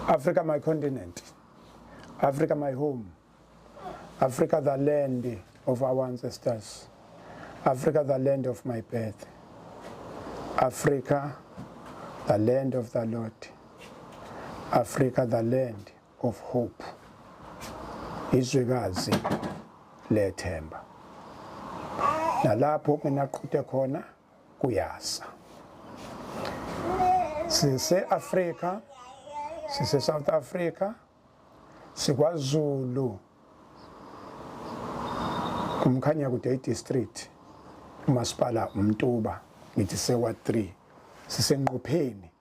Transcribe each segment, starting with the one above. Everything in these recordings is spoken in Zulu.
Africa my continent. Africa my home. Africa the land of our ancestors. Africa the land of my birth. Africa the land of the Lord. Africa the land of hope. Izwekazi lethemba. Nalapho kunaqhuthe khona kuyasa sise-afrika sise-south africa sikwazulu umkhanya kude idistrict umasipala umtuba ngithi sewa 3 sisenqopheni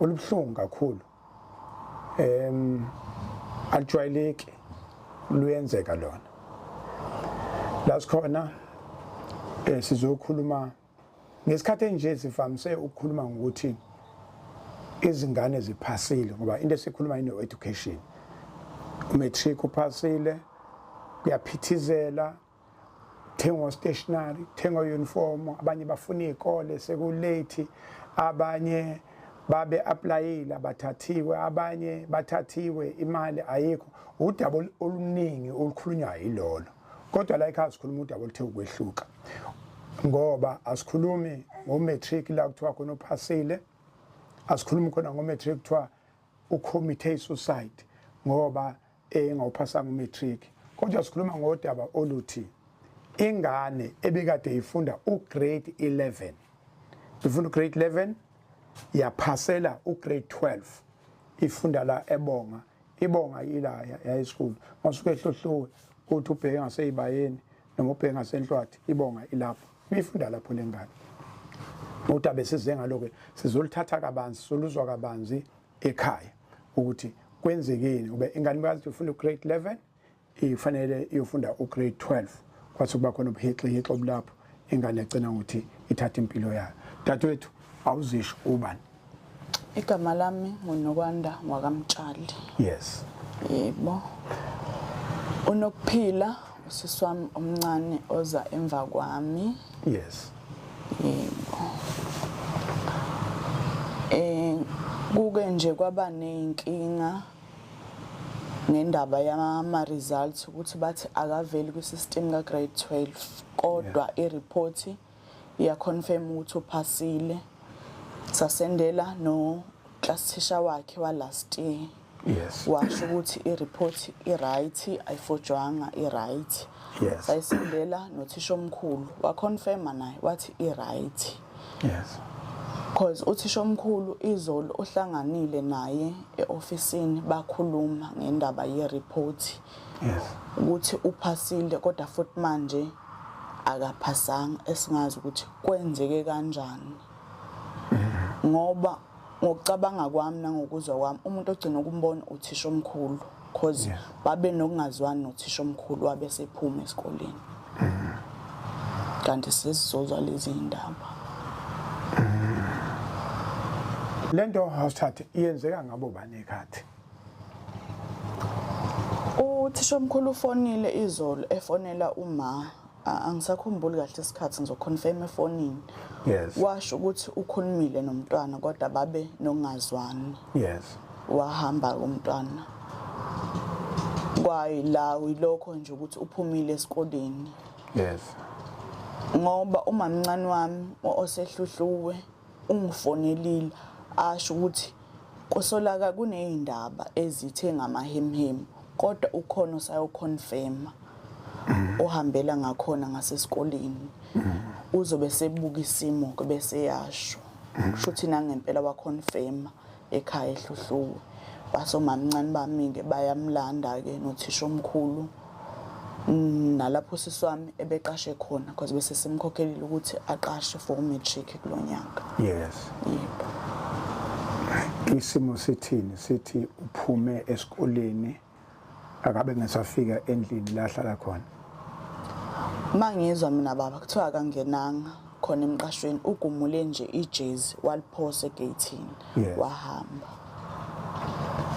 olubuhlungu kakhulu em alijwayeleki luyenzeka lona la sikhona eh sizokhuluma ngesikhathi enje sivamise ukukhuluma ngokuthi izingane ziphasile ngoba into esikhuluma ino education umatric uphasile kuyaphithizela thengwa stationary thengwa uniform abanye bafuna izikole sekulate abanye babe applyile abathathiwe abanye bathathiwe imali ayikho udaba oluningi olukhulunywa yilolo kodwa la ekhaya sikhuluma udaba oluthe ukwehluka ngoba asikhulumi ngomatric la kuthiwa khona uphasile asikhulumi khona ngomatric kuthiwa ucommitte isuicide ngoba engawuphasanga umatric kodwa sikhuluma ngodaba oluthi ingane ebikade ifunda ugrade 11 ifunda ugrade 11 yaphasela ugrade 12 ifunda la ebonga ibonga ila high school masuke ehlohluwe kuthi ubheke ngaseyibayeni noma ubhenga senhlwathi ibonga ilapho uyifunda lapho lengane uthi abesize ngaloke sizolithatha kabanzi soluzwa kabanzi ekhaya ukuthi kwenzekeni ube ingane bayazi ufunda ugrade 11 ifanele iyofunda ugrade 12 kwathi kuba khona ubuhixihixi obulapho ingane egcina ukuthi ithatha impilo yayo dadewethu awuzisho ubani Igama lami nguNokwanda wakamtshali. Yes. Yebo. Unokuphila usisi wami omncane oza emva kwami. Yes. Yebo. Eh kuke nje kwaba nezinkinga ngendaba yama results ukuthi bathi akaveli kwi system ka grade 12 kodwa i report yeah. iya confirm ukuthi uphasile sasendela no class teacher wakhe wa last year yes washo ukuthi i report i right ayifojwanga i right yes sayisendela nothisha omkhulu wa confirm naye wathi i right yes because uthisha omkhulu izolo uhlanganile naye eofisini bakhuluma ngendaba ye report yes ukuthi uphasile kodwa futhi manje akaphasanga esingazi ukuthi kwenzeke kanjani ngoba ngokucabanga kwami nangokuzwa kwami umuntu ogcina ukumbona uthisha omkhulu because yeah. babe nokungazwani nothisha omkhulu wabe sephuma esikoleni mm. kanti sesizozwa lezi ndaba mm. lento house chat iyenzeka ngabo bani khathi Uthishomkhulu ufonile izolo efonela uma angisakhumbuli kahle isikhathi ngizoconfirm efonini yes washo ukuthi ukhulumile nomntwana kodwa babe nongazwani yes wahamba umntwana kwayi la uyilokho nje ukuthi uphumile esikoleni yes ngoba umamncane wami osehluhluwe ungifonelile asho ukuthi Kusolaka kuneyindaba ezithe ngamahemhemu kodwa ukhona osayoconfirma ohambela ngakhona ngasesikoleni uzobe sebuka isimo ke bese yasho kusho ukuthi nangempela waconfirma ekhaya ehluhluwe basomamncane bami-ke bayamlanda-ke nothisha omkhulu Mm, nalapho usisi wami ebeqashe khona because bese simkhokhelile ukuthi aqashe for umatric kulo nyaka yes yebo isimo sithini sithi uphume esikoleni akabe ngesafika endlini la hlala khona mangizwa mina baba kuthiwa akangenanga khona emqashweni ugumule nje ijezi waliphosa egeyithini Yes. wahamba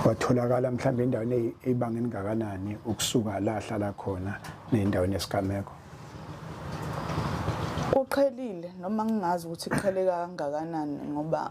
watholakala mhlawumbe endaweni eyi- eyibanga elingakanani ukusuka la ahlala khona nendaweni yesigameko kuqhelile noma ngingazi ukuthi kuqheleka kangakanani ngoba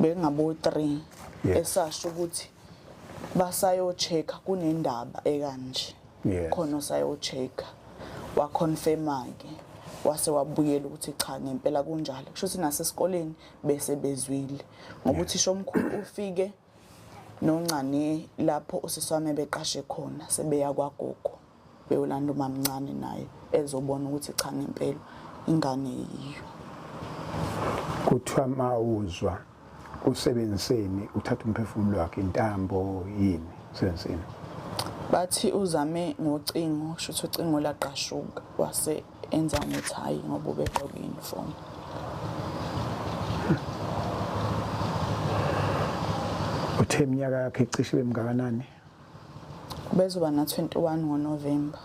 bengabo-3 esasho ukuthi basayo-check-a kunendaba ekanje khona osayo-check-a waconfirma-ke wase wabuyela ukuthi cha ngempela kunjalo kusho ukuthi nasesikoleni bese bezwile ngoba uthisha omkhulu ufike noncane lapho usisi wami ebeqashe khona sebeya kwagogo beyolanda umamncane naye ezobona ukuthi cha ngempela ingane yiyo kuthiwa mawuzwa usebenziseni uthatha umphefumulo wakhe intambo yini usebenziseni bathi uzame ngocingo shuthi ucingo laqashuka wase enza ukuthi hhayi ngoba ubegqoke uniform uthe iminyaka yakhe icishe ibe mngakanani ubezoba na-21 ngonovemba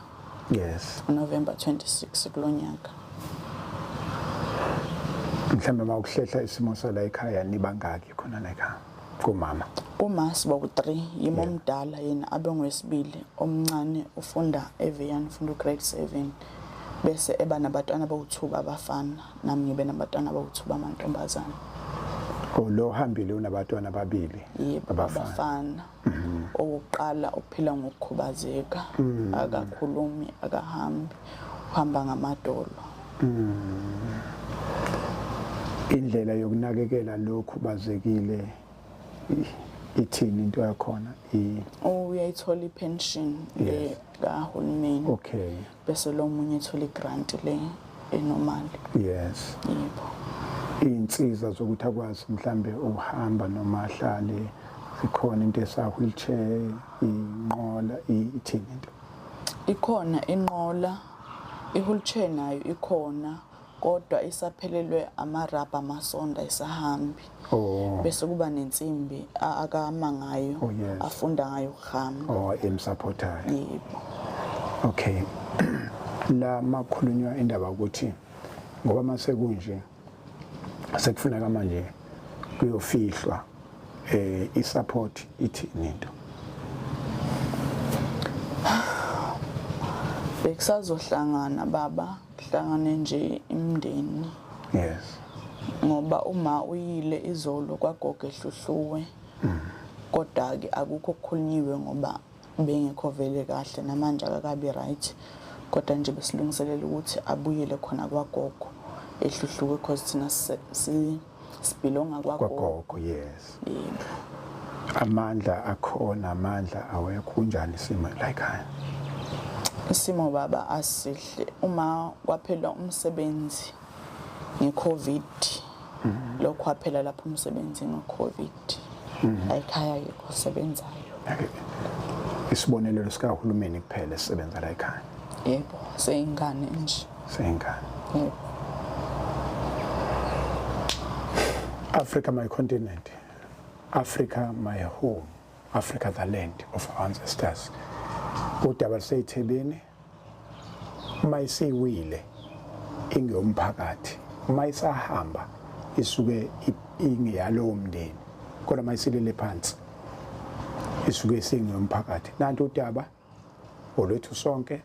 yes unovemba 26 kulo nyaka mhlawumbe uma ukuhlehla isimo sala ekhaya nibangaki khona la ekhaya kumama uma siba ku-3 yimo omdala yena abe ngowesibili omncane ufunda evian ufunda ugrade 7 bese eba nabatwana bawuthuba abafana nami ngibe nabatwana bawuthuba amantombazane oh, lo hambile unabatwana ababili abafana mhm. owokuqala uphila ngokukhubazeka mhm. akakhulumi akahambi uhamba ngamadolo Mm. Indlela yokunakekela lokhu bazekile ithini into yakhona i uyayithola ipension le kahulumeni okay bese lo munye ethola igrant le enormal yes yebo insiza zokuthi akwazi mhlambe ukuhamba noma ahlale ikhona into esa wheelchair inqola ithini into ikhona inqola I-wheelchair nayo ikhona kodwa isaphelelwe amarabha amasonda isahambi oh. bese kuba nensimbi akama ngayo oh, yes. afunda ngayo ukuhamba oh, emsapothayo yebo okay la makhulunywa indaba ukuthi ngoba masekunje sekufuneka manje kuyofihlwa eh isupport ithini into bekusazohlangana baba kuhlangane nje imndeni yes ngoba uma uyile izolo kwagoge hluhluwe mm. kodwa ke akukho kukhulunyiwe ngoba Ubengekho vele kahle namanje akakabi right kodwa nje besilungiselela ukuthi abuyele khona kwagogo ehluhluke because thina si sibhilonga kwagogo yes amandla akhona amandla awekho kunjani isimo like high isimo baba asihle uma kwaphela umsebenzi ngeCovid mhm. lokho kwaphela lapho umsebenzi ngoCovid mhm. ayikhaya yikho sebenzayo isibonelelo sikahulumeni kuphela esisebenza la ekhaya yebo seyingane nje seyingane yebo Africa my continent Africa my home Africa the land of our ancestors udaba luseyithebeni uma isiwile ingeyomphakathi uma isahamba isuke ingeyalowo mndeni kodwa uma isilele phansi isuke isingeyomphakathi nanti udaba olwethu sonke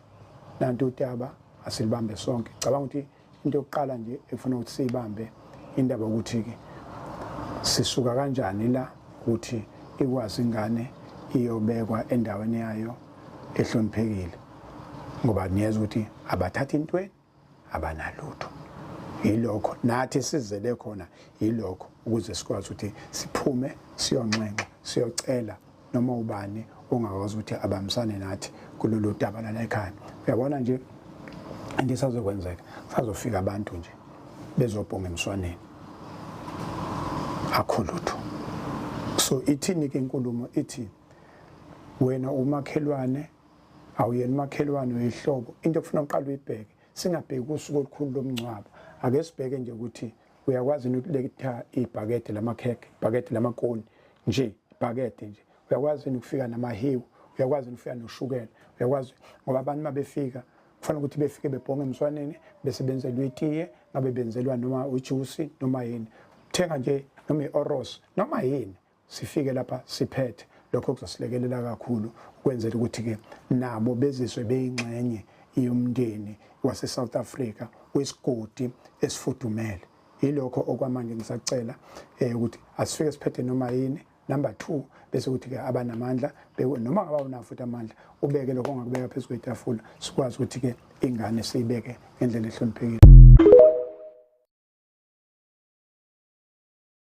nanti udaba asilibambe sonke cabanga ukuthi into yokuqala nje efuna ukuthi siyibambe indaba ukuthi-ke sisuka kanjani la ukuthi ikwazi ingane iyobekwa endaweni yayo ehloniphekile ngoba niyeza ukuthi abathathi intweni abanalutho yilokho nathi sizele khona yilokho ukuze sikwazi ukuthi siphume siyonxenxa siyocela noma ubani ongakwazi ukuthi abambisane nathi kulolu daba lana ekhaya uyabona nje into esazokwenzeka sazofika abantu nje bezobhonga emswaneni akho lutho so ithini ke inkulumo ithi wena umakhelwane awuyena umakhelwane uyihlobo into okufuna uqala uyibheke singabheki usuku olukhulu lomngcwabo ake sibheke nje ukuthi uyakwazi yini ukuletha ibhakede lamakhekhe ibhakede lamakoni nje ibhakede nje uyakwazi yini ukufika namahiwu uyakwazi yini ukufika noshukela uyakwazi ngoba abantu uma befika kufanele ukuthi befike bebhonge emswaneni bese benzelwa itiye ngabe benzelwa noma ujusi noma yini thenga nje noma i-oros noma yini sifike lapha siphethe lokho kuzosilekelela kakhulu ukwenzela ukuthi-ke nabo bezizwe beyingxenye yomndeni wase-south africa wesigodi esifudumele yilokho okwamanje ngisacela um ukuthi asifike siphethe noma yini number two bese kuthi-ke abanamandla noma ngaba unawo futhi amandla ubeke lokho ongakubeka phezu kwetafula sikwazi ukuthi-ke ingane siyibeke ngendlela ehloniphekile